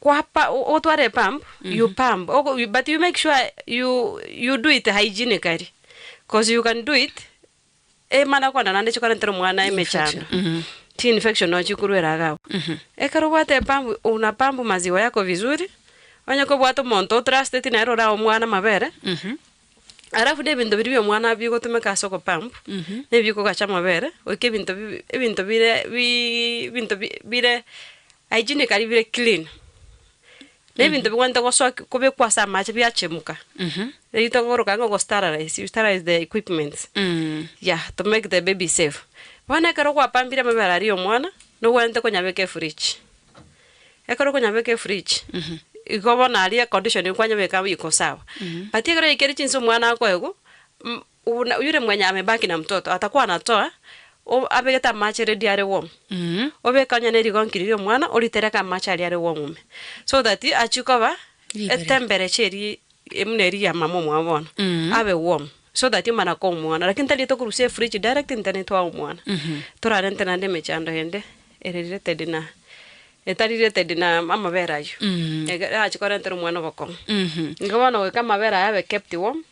Kwa pa, otware epump, you pump, Oko- you- but you make sure you, you do it hygienically, cause you can do it, eh, mana kwana naende chikorentera omwana emechando, chi-infection nonya chikorwera iga abwo. Ekero obwate epump, una pump maziwa yako vizuri, onye kobwate omonto otrusteti nere orae omwana amabere, alafu na ebinto biria bia omwana bigotumeka ase ogopump, nebi bikogacha amabere, goika ebinto bi- ebinto bire bi- ebinto bi- bire Hygienic aria bire clean, na ebinto bigwenerete gosoa kobekwa ase amache biachemuka, rito kogoroka ang'e ogosterilize, you sterilize the equipments, yeah, to make the baby safe. Bono ekero okwapambire amabere aria ya omwana, nogwenerete konyabeka efridge, ekero okonyabeka efridge, igo bono aria econdition eria kwanyabeka iko sawa, but ekero oyeikire chinse omwana akoegwa, Buna oyore mwenye amebaki na mtoto atakwana toa, o, abegete amache ere diare warm, obeke onye ne rigonki riria omwana oritereka amache aria are warm ime, so that achie koba Ribereria. etemperecha eri e buna eri ya mama omwabo bono, abe warm, so that omana komuona, lakini tari tokorusia efridge direct ntene toa omwana, torarente naende emechando ende ere related na, etari related na amabere ayio, ege- erache korentera omwana obokong'u. Igo bono goika amabere aya abe kept warm,